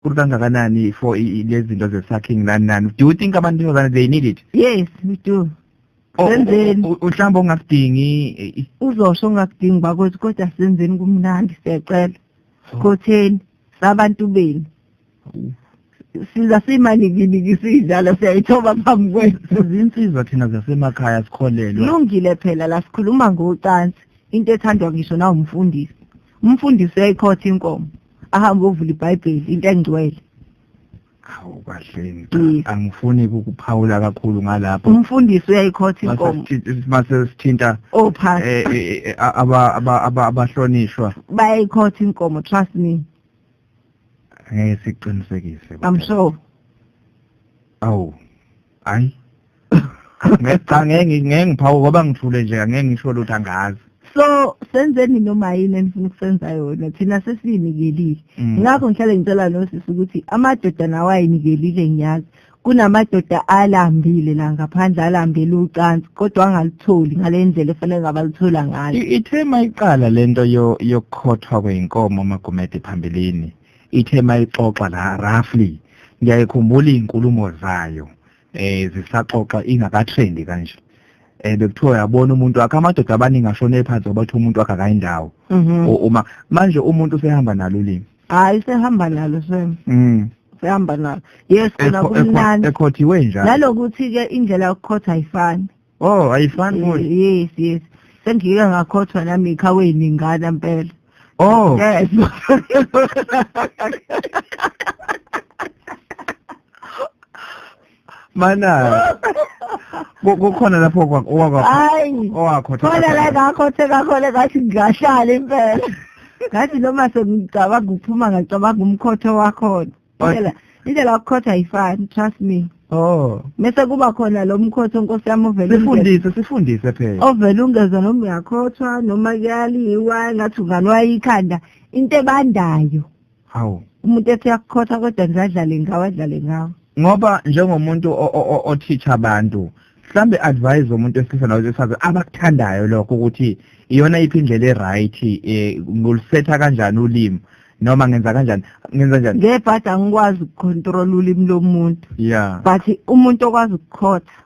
kakhulu kangakanani for lezi zinto ze-sucking nani nani do you think abantu besifazane they need it yes we do Oh, senzeni u- u- mhlawumbe ongakudingi eh, i- uzosho ungakudingi bakwethu kodwa senzeni kumnandi siyacela khotheni sabantu benu siza simanikiliki sidlala siyayithoba phambi kwenu sizinsizwa thina zasemakhaya sikholelwa lungile phela la sikhuluma ngocansi into ethandwa ngisho nawumfundisi umfundisi uyayikhotha inkomo ahambe ovula ibhayibheli into engcwele awu kahleni Yes. angifuni ukuphawula kakhulu ngalapho umfundisi uyayikhotha inkomo mase sithinta ophasi eh, eh, eh, aba- aba- aba- abahlonishwa bayayikhotha inkomo trust me ngeke siqinisekise i'm sure awu hayi ngicange ngeke ngiphawu ngoba ngithule nje ngeke ngisho lutho angazi so senzeni noma yini enifuna ukusenza yona thina sesiyinikelile mm. ngakho ngihlale ngicela nosisi ukuthi amadoda nawo ayinikelile ngiyazi kunamadoda alambile la ngaphandle alambele ucansi kodwa angalutholi ngale ndlela efanele ngabaluthola ngayo ithe mayiqala lento yokukhothwa kweyinkomo magumede phambilini ithe mayixoxa la roughly ngiyayikhumbula izinkulumo zayo eh zisaxoxa ingakatrendi kanje eh bekuthiwa yabona umuntu wakhe amadoda abaningi ashone phansi obathi umuntu wakhe akayindawo mhm. uma manje umuntu usehamba nalo limi hayi sehamba nalo sem mhm sehamba nalo yes khona kumnandi ekhothiwe njalo nalokuthi ke indlela yokukhotha ayifani Oh, ayifani Eh, manje. yes yes sengike ngakhothwa nami ikhaweni ingana mpela Oh. yes Mana. Ku- Kukhona lapho kwa- owakwa hayi owakho. khona la ngakhothe kakhona ngathi ngingahlala impela ngathi noma sengicabanga ukuphuma ngacabanga umkhotho wakhona indlela indlela yokukhotha ayifani trust me oh mese kuba khona lo mkhotho nkosi yami ovele sifundise sifundise phela ovele ungeza noma uyakhothwa noma kuyaliwa ngathi ungalwa ikhanda into ebandayo hawu umuntu ethi uyakukhotha kodwa ngizadlale ngawo adlale ngawo ngoba njengomuntu othicha abantu mhlambe advise umuntu wesilisa nowesifazane abakuthandayo lokho ukuthi iyona iphi indlela e-right um eh, ngolusetha kanjani ulimi noma ngenza kanjani ngenza njani ngebhadi angikwazi ukucontrola ulimi lomuntu ya but umuntu okwazi ukukhotha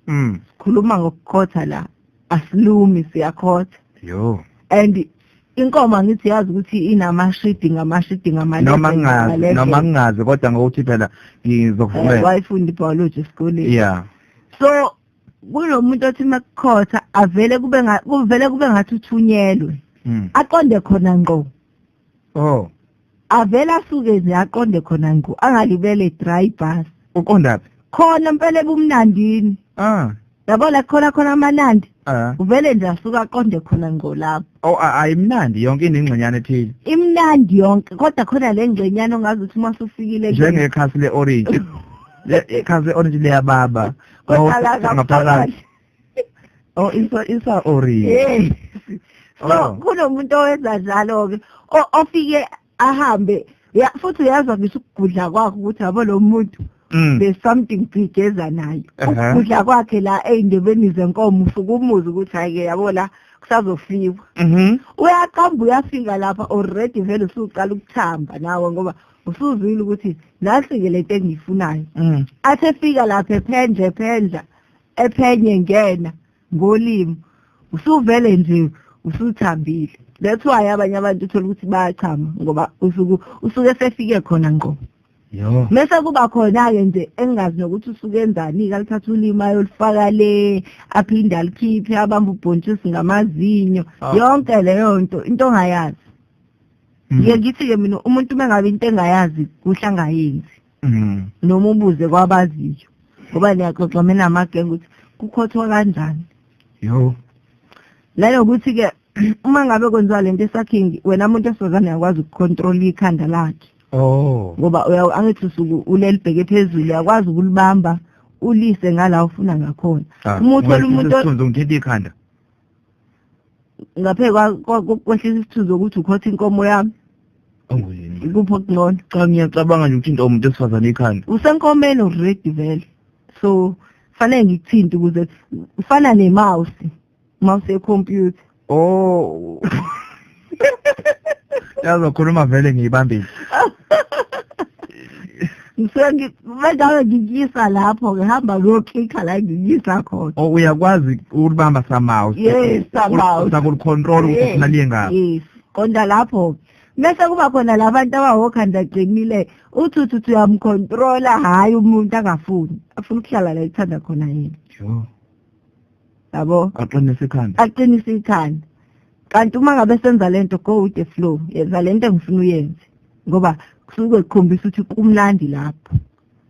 mm. sikhuluma ngokukhotha la asilumi siyakhotha yo and inkomo angithi yazi ukuthi inamashidi ngamashidi ngamalevel noma ngingazi noma ngingazi kodwa ngokuthi phela ngizokuvumela eh, wayifunda biology esikoleni yeah so kulomuntu othi makukhotha avele kube kuvele kube ngathi uthunyelwe hmm. aqonde khona ngqo oh avela asuke nje aqonde khona ngqo angalibele dry bus uqonda phi khona mpela ebumnandini ah yabo la khona khona amanandi ah uvele nje asuka aqonde khona ngqo lapho oh a- ayimnandi yonke inengxenyana ethile imnandi yonke kodwa khona le ngxenyana ongazi ukuthi uma usufikile kuyona. njengekhasi le-orange Le- ikhasi le-orange liyababa Kodwa la Ngaphakathi. oh isa isa ori hey so oh. kunomuntu owenza njalo ke ofike ahambe ya futhi uyazwa ngisho ukugudla kwakho ukuthi yabo lo muntu mm. there's something big eza nayo ukudla kwakhe la ey'ndebeni zenkomo usuke umuzi ukuthi hhayi-ke yabo la kusazofiwa mm-hmm. uyaqamba uyafika lapha already vele usuqala ukuthamba nawe ngoba usuzwile ukuthi nasi-ke le nto engiyifunayo mm. athi efika lapha ephendla ephendla ephenye ngena ngolimi usuvele nje usuthambile that's why abanye abantu uthola ukuthi bayachama ngoba usuku usuke sefike khona ngqo yo mese kuba khona ke nje engazi nokuthi usuke enzani kalithatha ulimi ayolifaka le aphinde alikhiphe abamba ubhontshisi ngamazinyo ah. yonke leyo nto into ongayazi mm. ngiye ngithi ke mina umuntu uma ngabe into engayazi kuhlangayenzi mm. noma ubuze kwabaziyo ngoba niyaxoxa mina amagenge ukuthi kukhothwa kanjani yo nanokuthi-ke uma ngabe kwenziwa le nto esakhingi wena muntu esifazane uyakwazi ukukhontrola ikhanda lakhe oh ngoba angithi usuku ulelibheke phezulu uyakwazi ukulibamba ulise ngala ufuna ngakhona ah, uma uthola umuntu ngithethe ikhanda ngaphe kwehlisa isithuzo ukuthi ukhotha inkomo yami kupho kungcono cha ngiyacabanga nje ukuthinta umuntu esifazane ikhanda usenkomeni already vele so fanele ngikuthinte ukuze ufana nemouse mouse yecomputer oh yazokhuluma vele ngiyibambile ngisuke ngi- bengabe ngikuyisa lapho ngihamba ngiyoklikha la ngikuyisa khona o uyakwazi ukulibamba somehow Yes, somehow. usakulicontrol ukuthi Yes, ufuna liye ngaphi yes konda lapho mese kuba khona labantu abawokhanda qinile uthi uthi uthi uyamcontrola hhayi umuntu angafuni afuna ukuhlala la ethanda khona yena Yho. yabo aqinise ikhanda aqinise ikhanda kanti uma ngabe senza lento go with the flow yenza lento engifuna uyenze ngoba kusuke kukhombisa ukuthi kumnandi lapho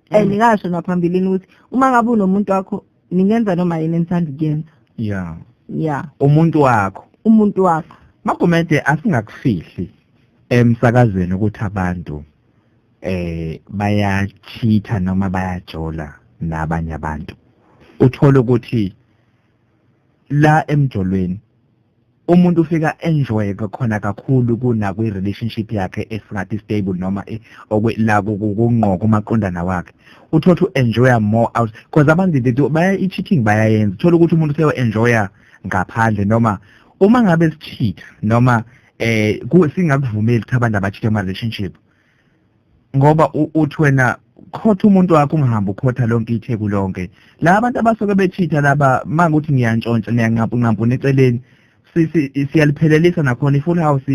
and mm. ngasho naphambilini ukuthi uma ngabe unomuntu wakho ningenza noma yini enithanda ukuyenza ya ya umuntu wakho umuntu wakho magumede asingakufihli emsakazweni ukuthi abantu eh bayachitha noma bayajola nabanye abantu uthola ukuthi la emjolweni umuntu ufika enjoy khona kakhulu kuna kwi relationship yakhe esingathi stable noma e, la kungqoko umaqondana wakhe uthothu enjoy more out because abantu they do baya i cheating bayayenza thola ukuthi umuntu seyo enjoy ngaphandle noma uma ngabe sichitha noma eh singakuvumeli ukuthi abantu abachithe ama relationship ngoba uthi wena khotha umuntu wakho ungahambi ukhotha lonke itheku lonke la abantu abasuke bechitha laba manga ukuthi ngiyantshontsha niyanqampu nqampu neceleni siyaliphelelisa nakhona i-full house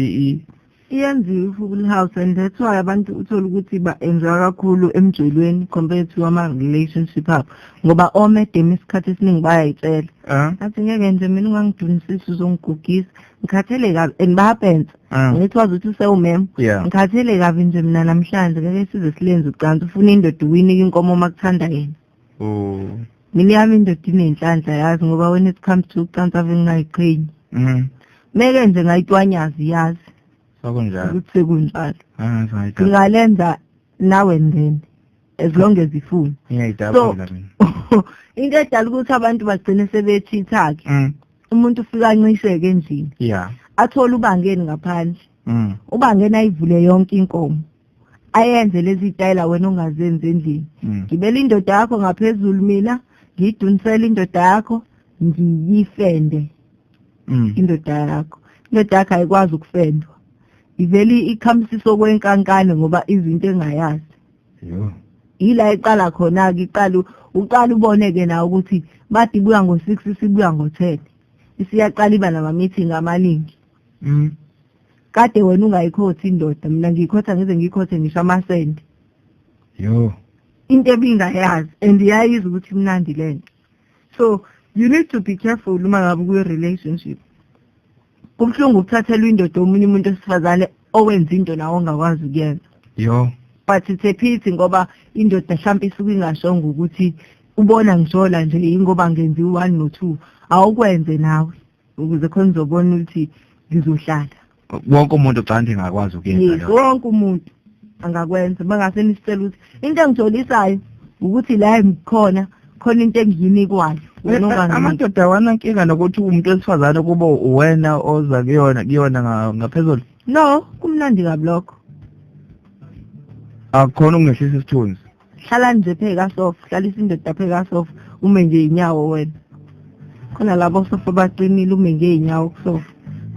iyenziwe i-full house and that's why abantu uthole ukuthi ba-enjoy kakhulu emjolweni compared to ama-relationship abo ngoba omedema isikhathi esiningi bayayitshela ah. athi ngeke nje mina ungangidunisisi uzongigugisa ngikhathele kabi and bayapensa Ah. ngithi wazi ukuthi usewumem Yeah. ngikhathele kabi nje mina namhlanje ngeke size silenze ucansi ufuna indoda uwinike inkomo uma kuthanda yena Oh. mina yami indoda inenhlanhla yazi ngoba when it comes to ucansi ave ngingayiqhenyi Mhm. meke nje ngayitwanyazi yazi Sokunjalo. ukuthi sekunjalo Ah, right. ngingalenza nawe ndeni as long as ifuna Ngiyayidabula mina. into edala ukuthi abantu bagcine sebechitha-ke Mm. umuntu ufika ancisheke endlini yeah athole ubangeni ngaphandle mm. ubangeni ayivule yonke inkomo ayenze lezi tayela wena ongazenzi endlini mm. ngibela indoda yakho ngaphezulu mina ngiyidunisela indoda yakho ngiyifende mm. indoda yakho indoda yakho ayikwazi ukufendwa ivele ikhamsisa okwenkankane ngoba izinto engayazi yila iqala khona-ke iqala uqala ubone-ke nawe ukuthi bathi ibuya ngo-six isibuya ngo-ten isiyaqala iba nama-meeting amaningi mm. kade wena ungayikhothi indoda mina ngiyikhotha ngize ngiyikhothe ngisho amasende yo into ebingayazi and yayizi ukuthi imnandi le nto so you need to be careful uma ngabe kuyi-relationship kubuhlungu ukuthathelwa indoda omunye umuntu esifazane owenza into nawo ongakwazi ukuyenza yo but it's a pity ngoba indoda mhlawumpe isuke ingashongo ukuthi ubona ngishola nje yingoba ngenziwa one no two awukwenze nawe ukuze khona uzobona ukuthi ngizohlala wonke umuntu ucanti ngakwazi ukuyenza yes wonke umuntu angakwenza mangase nisicela ukuthi into engijolisayo ukuthi la ngikhona khona into engiyinikwayo amadoda awana nkinga nokuthi umuntu wesifazane kuba uwena oza kuyona kuyona ngaphezulu no kumnandi kabi lokho akukhona ukungehlisa isithunzi hlala nje pheka sofa hlalisa indoda pheka sofa ume nje inyawo wena khona labo sofa baqinile ume nje inyawo kusofa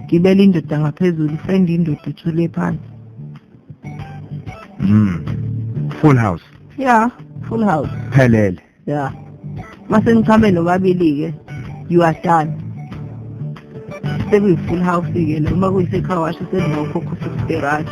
gibela indoda ngaphezulu fenda indoda uthule phansi mm full house yeah full house phelele yeah mase nichame nobabili ke you are done sekuyi full house ke lo uma kuyisekhawashi sekuzokhokha usisterati